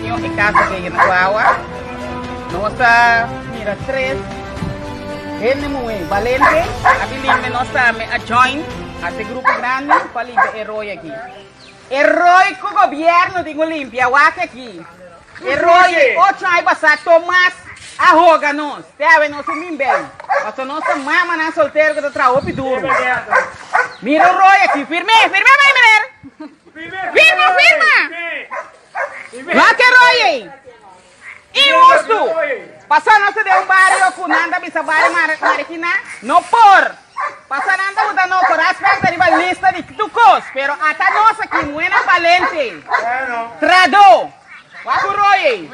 Señor e casa que hay en Aguawa. Nos a mira tres hende muhé balente. Aki limbe nos a me a join a te grupo grande pa limbe e rooi aki. E rooi cu gobierno tin un limpia wak aki. E roye ocho ai pasá Tomás a hoga nos, te hawe nos un bin bèi, pasobra nos ta mamanan soltero ku ta traha hopi duru. Mira un roye aki, firm'é, firm'é bai meneer! Firma, firma! Nos ke roye ei. Inhustu! Pasá nos ta den un bario ku nan ta bisa bario Marikiná, no por! Pasanan ta buta no por aspecto riba lista di tur cos, pero ata nos aki muena valente, trado, wak cu roye,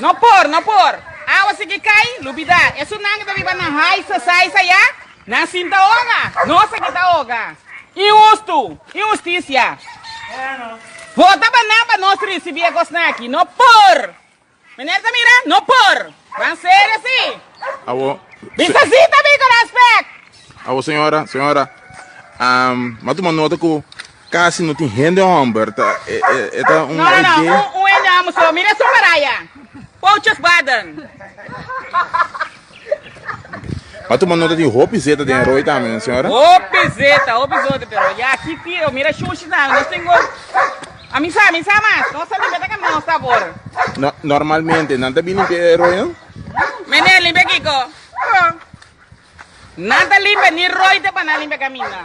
no por, no por, awa sigui cay, lubida, esunnan cu ta biba nan hais a sais a ya, nan sin ta oga, nos aki ta oga, inhusto, inhusticia, vota banan pa nos ricibi e cosnan aki, no por, Meneer ta mira, no por. Ban serio si. Awo. Bisa si ta bin con respect. Awo señora, señora. Um, ma tuma nota cu casi no tin hende homber. Ta, e, e, e ta un No, no, no, un, un hende homber so. Mira su maraya. Pouches baden. M'a tuma nota tin hopi zeta den roi tambe, señora? Hopi zeta, hopi zote, pero ya aki ti o mira shushi tambe. Nos tin go a misa, misa mas. Nos a limpia ta cam nos sabor. No, normalmente, nan ta bin limpia e roi, no? Mene, limpia kiko? Oh. Nan ta limpia ni roi te pa nan limpia caminda.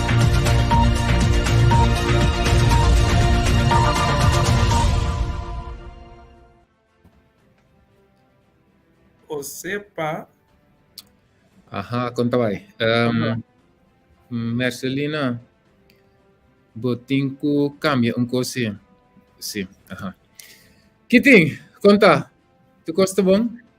O sepa. Aha, kon ta bai. Um, Mercelina, bo tin ku kambia un kosi. Si, aha. Kitin, konta, tu kosta bon?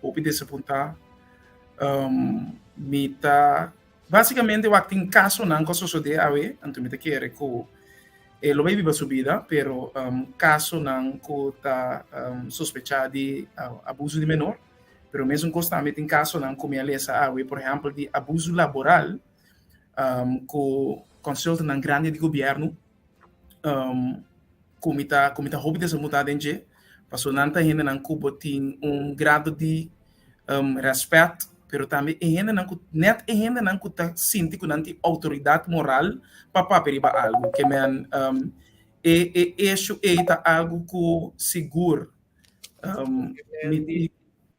Hopi di esa punta. Um, mi ta... Básicamente, wak tin casonan cu sosodé awe, anto mi ta kere cu e lo bay biba su bida, pero um, casonan cu ta um, sospechá di uh, abuso di menor. Pero mesun cos tambe tin casonan cu mi a lesa awe, por ejemplo, di abuso laboral um, cu consultantnan grandi di gobierno um, ku mi ta ku mi ta hopi desamutá den dje, paso nan ta hendenan ku bo tin un grado di um, rèspèt, pero tambe e hendenan ku nèt e hendenan ku ta sinti ku nan tin outoridat moral pa papia riba algu, ke men um, e e eshu ei ta algu ku sigur um, mi, mi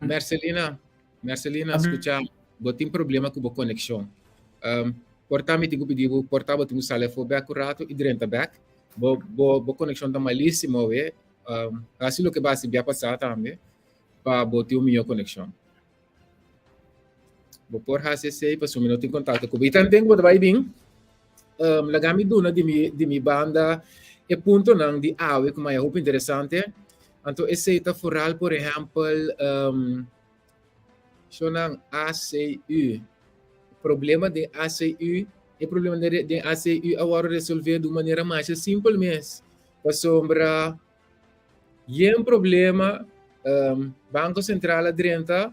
Mercelina, Mercelina, scucha, bo tin problema cu bo conexion. Um, corta mi tin cu pidi bo, corta bo tin cu sale fo back un rato y drenta back. Bo, bo, bo conexion ta malísimo, we. Um, casi lo que ba si bia pasada tambe, pa bo tin un mijo conexion. Bo por hace sei, pa sumi no tin contacto cu bo. Y tanten cu bo ta bai bin, Um, laga mi duna di mi, di mi banda e puntonan di awe ku maya hopi interesante. Anto esei ta foral, por ehempel, um, shonan ACU. Problema den ACU, e problema den, den ACU a wòrdu resolvé d'un manera masha simpel mes. Pasobra yen problema um, Banko Sentral a drenta,